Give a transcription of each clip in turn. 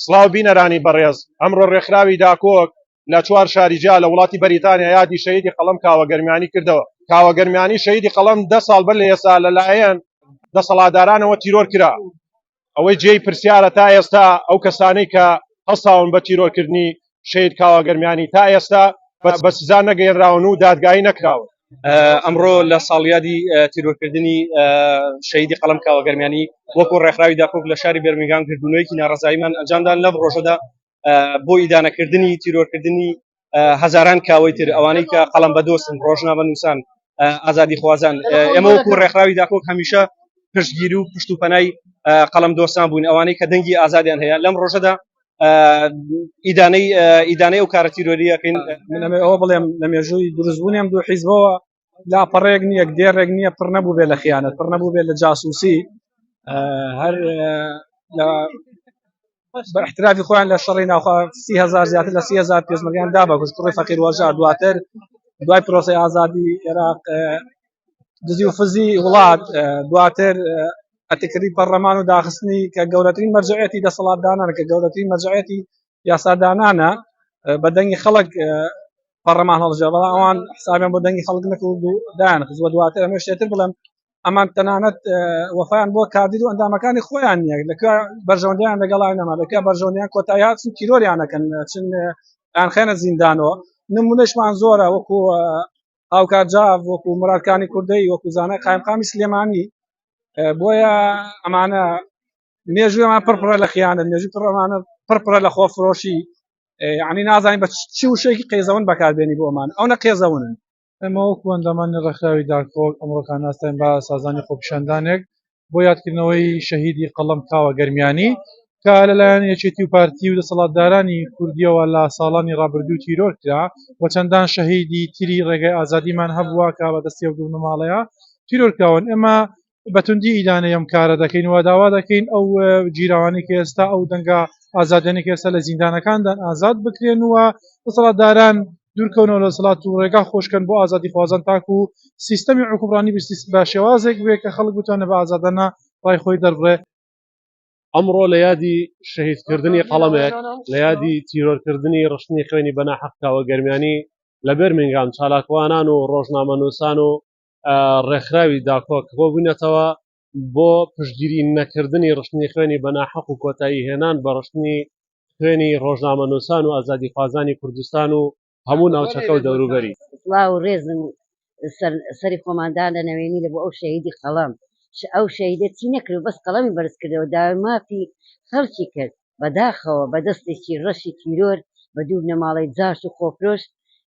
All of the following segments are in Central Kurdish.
سڵاو بینەرانی بەڕێز، ئەمڕۆ ڕێکخراوی داکۆک لە چوار شاری جیا لە وڵاتی بەریتانیا یادی شەهیدی قەڵەم کاوە گەرمیانی کردەوە. کاوە گەرمیانی شەهیدی قەڵەم دە ساڵ بەر لە ئێستا لە لایەن دەسەڵاتدارانەوە تیرۆر کرا. ئەوەی جێی پرسیارە تا ئێستا ئەو کەسانەی کە هەڵساون بە تیرۆر کردنی شەهید کاوە گەرمیانی تا ئێستا بە سزا نەگەیەنراون و دادگایی نەکراون. ئەمڕۆ لە ساڵیادی تیرۆرکردنی شەیدی قەڵم کاوەگەرمیانی وەکو ڕێکخراوی داکۆک لە شاری بەرمیگان گردونەیەکی ناڕزاییمان ئەنجامدان لەم ڕۆژەدا بۆ ئیدانەکردنی تیرۆرکردنی هەزاران کاوەی تر ئەوانەی کە قەڵم بە دۆستن ڕۆژنامە نووسان ئازادی خوازان ئێمە وەکو ڕێکخراوی داکۆک هەمیشە پشتگیری و پشت و پەنای قەڵم دۆستان بووین ئەوانەی کە دەنگی ئازادیان هەیە لەم ڕۆژەدا ئیدانەی ئیدانەی و کارە تیرۆریەکەین منەمە ئەوە بڵێم لە مێژووی دروستبوونیان دوو حیزبەوە لاپەڕێک نییە دێڕێک نییە پڕ نەبوو بێ لە خیانەت پڕ نەبوو بێ لە جاسوسی هەر احترافی خۆیان لە شەڕی ناوخوا سیهزار زیاتر لە سیهزار پێزمەریان دا بە کوشتڕی فەقیر وەژار دواتر دوای پرۆسی ئازادی عێراق دزی و فزی وڵات دواتر ئەتکردی پەرلەمان و داخستنی کە گەورەترین مەرجعەتی دەسەڵاتدانانە کە گەورەترین مەرجعەتی یاسادانانە بە دەنگی خەڵک پەڕەمان هەڵژێ بەڵام ئەوان حسابیان بۆ دەنگی خەڵک نەکرد و دایان خزوە دواتر ئەمە شتێتر بڵێم ئەمان تەنانەت وەفایان بۆ کاردید و ئەندامەکانی خۆیان نیە لەکە بەرژەوەندیان لەگەڵای نەما لەکە بەرژەوەندیان کۆتایات چون تیرۆریانەکەن چون یان خێنە زیندانەوە نمونەشمان زۆرە وەکو هاوکات جا وەکو مرادکانی کوردەی وەکو زانای قایمقامی سلێمانی بۆیە ئەمانە مێژوێمان پڕپڕە لە خیانە مێژوی پڕمانە پڕپڕە لە خۆفرۆشی یعنی نازانین بە چی وشێکی قێزەون بەکاربێنی بۆمان ئەو نە قێزەونن ئەمەوەکوەندەمانی ڕێکخراوی دارکۆک ئەمڕۆکان ناستین بە سازانی خۆپیشاندانێک بۆ یادکردنەوەی شەهیدی قەڵەم کاوە گەرمیانی کە لەلایەن یەکێتی و پارتی و دەسەڵاتدارانی کوردیەوە لە ساڵانی ڕابردوو تیرۆر کرا و چەندان شەهیدی تری ڕێگەی ئازادیمان هەبووە کە بە دەستی و دوونماڵەیە تیرۆرکراون ئێمە بەتوندی ئیدانەی ئەم کارە دەکەین و داوا دەکەین ئەو گیرەوانی کە ئێستا ئەو دەنگە ئازادێنی کە ئێستا لە زیندانەکاندان ئازاد بکرێن و دەسەڵاتداران دوورکەونەوە لە دەسەڵات و ڕێگا خۆشکەن بۆ ئازادی خوازان تاکو و سیستەمی عکوبڕانی بستی بە شێوازێک بێ کە خەڵک بتوانێت بە ئازادانە ڕای خۆی دەربڕێ. ئەمڕۆ لە یادی شەهید کردنی قەڵەمێک، لە یادی تیرۆر کردنی ڕشتنی خوێنی بە ناحەق کاوە گەرمیانی لە بێرمینگام چالاکوانان و ڕۆژنامەنووسان و ڕێکخراوی داکۆک کۆبووینەتەوە بۆ پشتگیری نەکردنی ڕشتنی خوێنی بەناحەق و کۆتایی هێنان بە ڕشتنی خوێنی ڕۆژنامەنووسان و ئازادی خوازانی کوردستان و هەموو ناوچەکە و دەوروبەری سڵاو و ڕێزم سەری خۆماندا لە نەوێنی لە بۆ ئەو شەهیدی قەڵەم ئەو شەهیدە چی نەکرد بەس قەڵەمی بەرز کردەوە داوای مافی خەڵکی کرد بەداخەوە بە دەستێکی ڕەشی تیرۆر بە دوو بنەماڵەی جاش و خۆفرۆش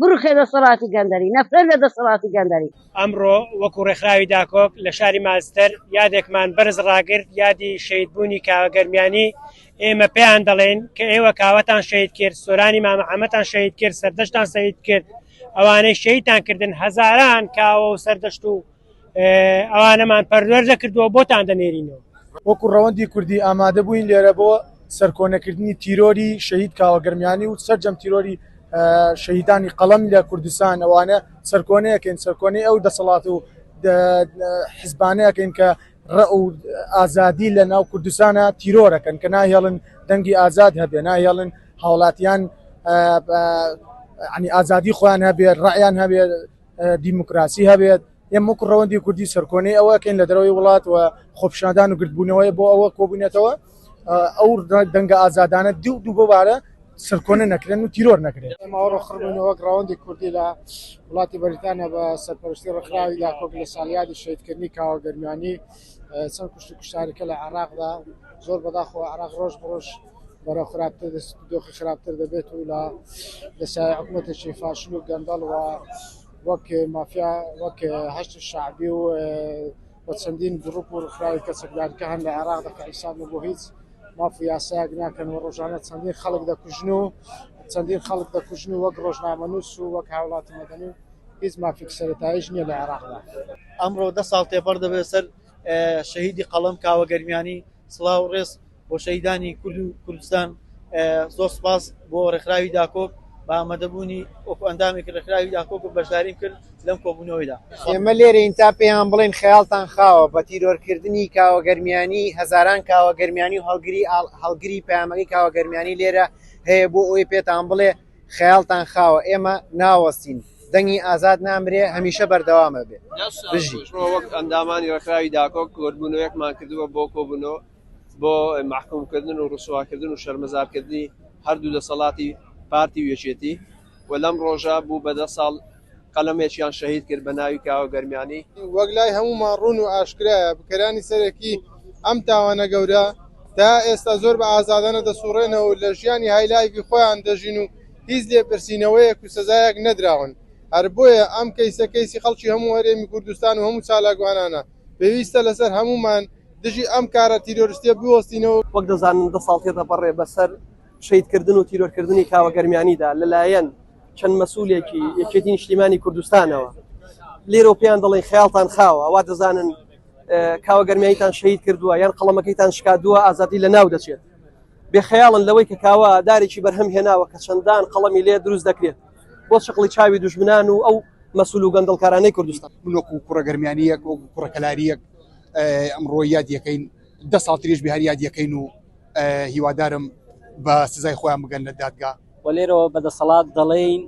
بڕوخێ دەسەڵاتی گەندەری، نەفرەت لە دەسەڵاتی گەندەری. ئەمڕۆ وەکو ڕێکخراوی داکۆک لە شاری مانچستەر یادێکمان بەرز ڕاگرت یادی شەهید بوونی کاوە گەرمیانی ئێمە پێیان دەڵێین کە ئێوە کاوەتان شەهید کرد سۆرانی مامە عەمەتان شەهید کرد سەردەشتان سەید کرد ئەوانەی شەیتان کردن هەزاران کاوە و سەردەشت و ئەوانەمان پەروەر دەکردووە بۆتان دەنێرینەوە وەکو ڕەوەندی کوردی ئامادە بووین لێرە بۆ سەرکۆنەکردنی تیرۆری شەهید کاوەگەرمیانی و سەرجەم تیرۆری شەهیدانی قەڵەم لە کوردستان ئەوانە سەرکۆنەیەکەین سەرکۆنەی ئەو دەسەڵات و حزبانەیەکەین کە ڕە و ئازادی لە ناو کوردستانە تیرۆرەکەن کە ناهێڵن دەنگی ئازاد هەبێ ناهێڵن هاوڵاتیان عنی ئازادی خۆیان هەبێت ڕعیان هەبێت دیموکراسی هەبێت ئێمە وەکو ڕەوەندی کوردی سەرکۆنەی ئەوەکەین لە دەرەوەی وڵات و خۆپشاندان و گردبوونەوەی بۆ ئەوە کۆبوونێتەوە ئەو دەنگە ئازادانە دی و دوو ببارە سەرکۆنە نەکرێن و تیرۆر نەکرێت ئەمەڕخڕبوونەوەک ڕەوەندی کوردی لە وڵاتی بەریتانە بە سەرپەرشتی ڕخراوی لا کۆک لە سالیادی شیدکردنی کاوە گەرمیانی چەند کوشت کوشتارەکە لە عراقدا زۆر بەداخۆ عراق ڕۆژ بڕۆژ بەرەو خراپتر دۆخی خراپتر دەبێت و لە دەسای حکوومەتێکی فاشل و گەندەڵ و وەک مافیا وەک هەشت شعبی و بە چەندین گروپ و ڕخراوی کەسەکدارکە هەن لە عێراق دەکە حیساب لە بۆ هیچ ماف و یاسایەک ناکەن و ڕۆژانە چەندین خەڵک دەکوژن و چەندین خەڵک دەکوژن و وەک ڕۆژنامەنووس و وەک هاوڵاتی مەدەنی هیچ مافێک سەرتایش نییە لە عێراقدا ئەمڕۆ دە ساڵ تێپەڕ دەبێت سەر شەهیدی قەڵەم کاوە گەرمیانی سڵاو و ڕێز بۆ شەهیدانی کورد و کوردستان زۆر سوپاس بۆ ڕێکخراوی داکۆک بە ئامادەبوونی وەکو ئەندامێکی ڕێکخراوی داکۆک و بەشداریم کرد لەم کۆبوونەوەیدا. ئێمە لێرەین تا پێیان بڵێین خەیاڵتان خاوە، بە تیرۆرکردنی کاوە گەرمیانی هەزاران کاوە گەرمیانی و هەڵگری هەڵگری پەیامەکەی کاوە گەرمیانی لێرە هەیە بۆ ئەوەی پێتان بڵێ، خەیاڵتان خاوە ئێمە ناوەستین دەنگی ئازاد نامرێ هەمیشە بەردەوامە بێ بژی. وەک ئەندامانی ڕێکخراوی داکۆک کۆبوونەوەیەکمان کردووە بۆ کۆبوونەوە بۆ مەحکوومکردن و ڕسواکردن و شەرمەزارکردنی هەردوو دەسەڵاتی پارتی و یەکێتی و لەم ڕۆژە بوو بە دە ساڵ قەلەمێکیان شەهید کرد بە ناوی کاوە گەرمیانی. وەک لای هەموومان ڕوون و ئاشکرایە بکەرانی سەرەکی ئەم تاوانە گەورە تا ئێستا زۆر بە ئازادانە دەسوڕێنەوە و لە ژیانی هایلایڤی خۆیان دەژین و هیچ لێپرسینەوەیەک و سزایەک نەدراون هەر بۆیە ئەم کەیسە کەیسی خەڵکی هەموو هەرێمی کوردستان و هەموو چالاکوانانە پێویستە لەسەر هەموومان دژی ئەم کارە تیرۆرستیە بوەستینەوە. وەک دەزانن دە ساڵ تێدەپەڕێ بەسەر شەهیدکردن و تیرۆرکردنی کاوە گەرمیانیدا لەلایەن چەند مەسولێکی یەکێتی نیشتیمانی کوردستانەوە لێرەوە پێیان دەڵێن خیاڵتان خاوە ئەوە دەزانن کاوە گەرمیتان شەید کردووە یان قەڵەمەکەیتان شکادووە ئازادی لە ناو دەچێت بێخەیاڵن لەوەی کە کاوە دارێکی بەرهەم هێناوە کە چەندان قەڵەمی لێ دروست دەکرێت بۆ شقڵی چاوی دوژمنان و ئەو مەسول و گەندڵکارانەی کوردستان بلۆک و کوڕە گەرمیانیەک و کوڕەکەلاریەک ئەمڕۆ یاد یەکەین دە ساڵ تریش بهر یاد یەکەین و هیوادارم بە سزای خۆیان بگەن لە دادگا و لێرەوە بە دەسەڵات دەڵێین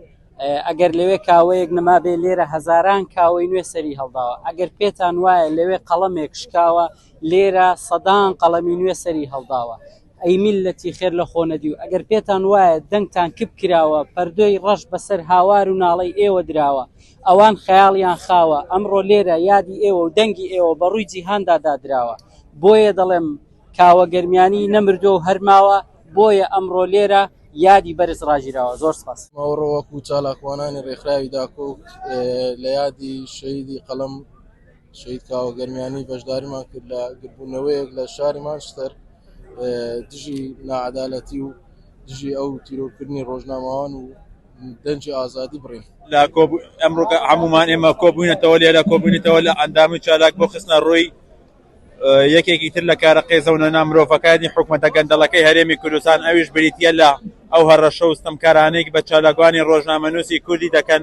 ئەگەر لەوێ کاوەیەک نەمابێ لێرە هەزاران کاوەی نوێ سەری هەڵداوە ئەگەر پێتان وایە لەوێ قەڵەمێک شکاوە لێرە سەدان قەڵەمی نوێ سەری هەڵداوە ئەی میلەتی خێر لە خۆ نەدی و ئەگەر پێتان وایە دەنگتان کپ کراوە پەردۆی ڕەش بەسەر هاوار و ناڵەی ئێوە دراوە ئەوان خەیاڵیان خاوە ئەمڕۆ لێرە یادی ئێوە و دەنگی ئێوە بە ڕووی جیهاندا دادراوە بۆیە دەڵێم کاوە گەرمیانی نەمردووە و هەرماوە بۆیە ئەمڕۆ لێرە یادی بەرز ڕاگیراوە. زۆر سپاس. ئەمڕۆ وەکو چالاکوانانی ڕێکخراوی داکۆک لە یادی شەهیدی قەڵەم شەهید کاوە گەرمیانی بەشداریمان کرد لە گردبوونەوەیەک لە شاری مانچستەر دژی ناعەدالەتی و دژی ئەو تیرۆرکردنی ڕۆژنامەوان و دەنجی ئازادی بڕین لە ئەمڕۆکە هەمومان ئێمە کۆبووینەتەوە لێرە کۆبوونیتەوە لە ئەندامی چالاک بۆ خستنە ڕووی یەکێکی تر لە کارە قێزەونە نا مرۆڤەکانی حکومەتە گەندەڵەکەی هەرێمی کوردستان ئەویش بریتیە لە ئەو هەڕەشە و ستەمکارانەی بە چالاکوانی ڕۆژنامەنووسی کوردی دەکەن،